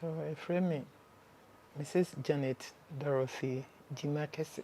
Tɔ ɛfrɛ me Mrs Janet Dorothy Gyima Kɛse.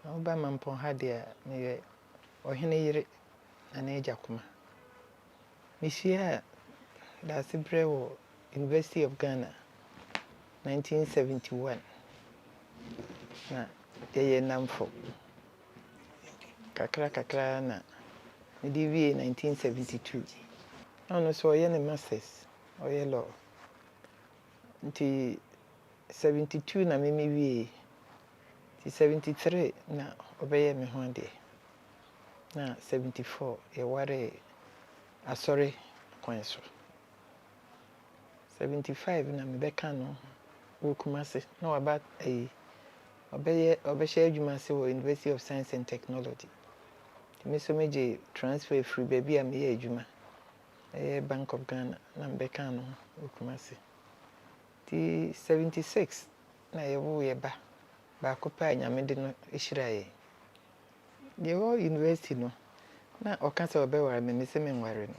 Na woba Mampɔn ha deɛ a, meyɛ ɔhene yere na n'agya kuma. Mehyiaa Daasebrɛ wɔ University of Ghana 1971 na yɛyɛ nnamfo. Kakra kakra ara na mede wiee 1972. Na ɔno nso ɔyɛ ne masters Ɔyɛ law nti seventy two na me me wie yi nti seventy three na ɔbɛyɛɛ me ho adeɛ na seventy four yɛ waree asɔre kwan so seventy five na me bɛka no wɔ Kumasi na waba ayi ɔbɛyɛ ɔbɛhyɛ adwuma ase wɔ University of Science and Technology nti me nso me gye transfer firi baabi a me yɛ adwuma ɛyɛ Bank of Ghana na mebɛka ano wɔ Kumasi. Nti seventy six na yɛwoo yɛn ba baako pɛ a Nyame de no hyira yɛn. Yɛwɔ University no, na ɔka sɛ ɔbɛware me, mese menware no.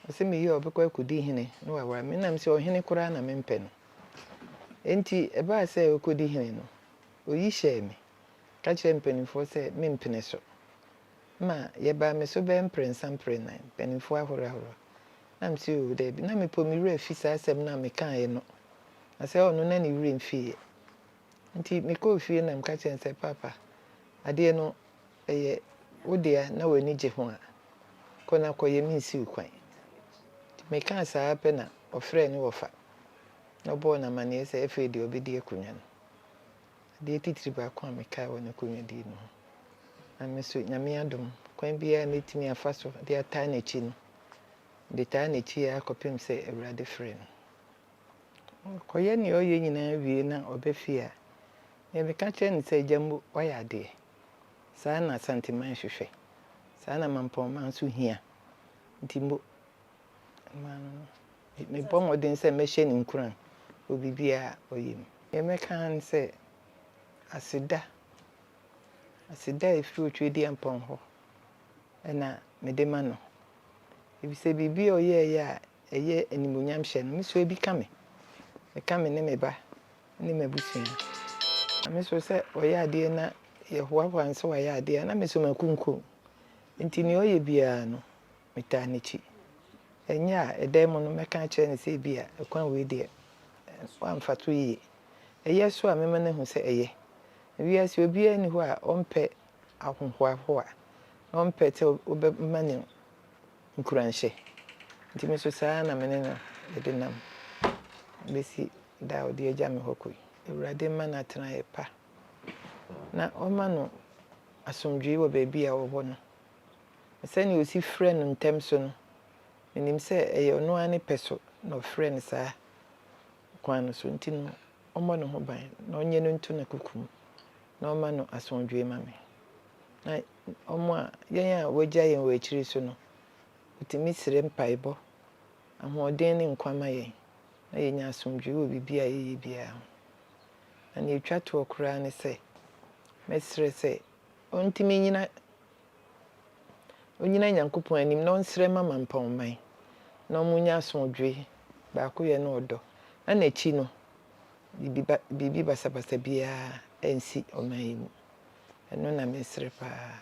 Ɔse meyie a ɔbɛkɔ akɔdi hene na waware me. Nna mese ɔhene koraa na mempɛ no. Nti ɛbaa sɛ ɔkɔdi hene no, oyi hyɛɛ me, ka kyerɛɛ mpaninfoɔ sɛ mempene so. Ma yɛbaa me so bɛyɛ mprɛnsa mprɛnan, mpanimfoɔ ahorow ahorow. Na me se, Oo, daabi. Na mepo me werɛ fi saa asɛm no a mekaeɛ no. Na sɛ ɔno na ne werɛ mfiiɛ. Nti mekɔɔ fie na meka kyerɛɛ no sɛ, Paapa, adeɛ no, ɛyɛ wo dea na w'ani gye ho a, kɔ na kɔyɛ, mensi wo kwan. Nti mekaa saa ara pɛ na ɔfrɛɛ ne wɔfa, na ɔbɔɔ no amanneɛ sɛ afei deɛ ɔbɛdi akonnwa no. Adeɛ titiri baako a mekae wɔ ne kɔnwadie no ho, na me nso Nyame adom, kwan biara a mɛtumi afa so de ataa n'akyi no, mede taa n'akyi ara kɔpem sɛ Awurade frɛ no. Ɔkɔyɛ nea ɔyɛ nyinaa wie na ɔba fie a, nea meka kyerɛ no sɛ, Agya Mbo, woayɛ adeɛ. Saa na Asanteman hwehwɛ. Saa na Mampɔn man nso hia. Nti Mbo, mmaa no no. Mebɔ mmɔden sɛ mɛhyɛ no nkuran wɔ biribiara a ɔyɛ mu. Deɛ mɛka ara ne sɛ, aseda. Aseda a ɛfiri Otwedeɛmpɔn hɔ na mede ma no. Efisɛ biribi a ɔyɛeɛ a ɛyɛ animuonyamhyɛ no, me nso ebi ka me. Ɛka me ne me ba ne m'abusua. Na me nso sɛ ɔyɛ adeɛ na yɛhoahoa no sɛ wayɛ adeɛ a, na me nso makunkum. Enti nea ɔyɛ biara no, metaa n'akyi. Ɛnyɛ a, ɛda yi mu no mɛka akyerɛ no sɛ ebia kwan wei deɛ wamfa so yie. Ɛyɛ so a, mɛma no ahu sɛ ɛyɛ. Wiase obiara nni hɔ a ɔmpɛ ahohoahoa, na ɔmpɛ sɛ wobɛma no nkuranhyɛ. Nti me nso saa ara na me ne no de nam bɛsi da a ɔde agya me hɔ kɔ yi. Awurade mma no atenaeɛ pa, na ɔmma no asomdwoeɛ wɔ baabi a ɔwɔ hɔ no. Na sɛnea osi frɛ no ntɛm so no, minim sɛ ɛyɛ ɔno ara ne pɛ so na ɔfrɛɛ no saa kwan no so nti no, ɔmmɔ ne ho ban, na ɔnyɛ no nto n'akoko mu, na ɔmma no asomdwoe mma me. Na wɔn a, yɛn a wɔagya yɛn wɔ akyiri so no, wotumi srɛ mpaebɔ, ahoɔden ne nkwa ma yɛn, na yenya asomdwoe wɔ biribi a yɛyɛ biara ho. Na nea etwa toɔ koraa ne sɛ, mɛsrɛ sɛ Ɔntim nnyina ɔnnyina Nyankopɔn anim na ɔnsrɛ mma mampɔnman na wɔnnya asomdwoe, baakoyɛ ne ɔdɔ, na n'akyi no biribi ba biribi basabasa biara ansi ɔman yi mu. Ɛno na mesrɛ paa.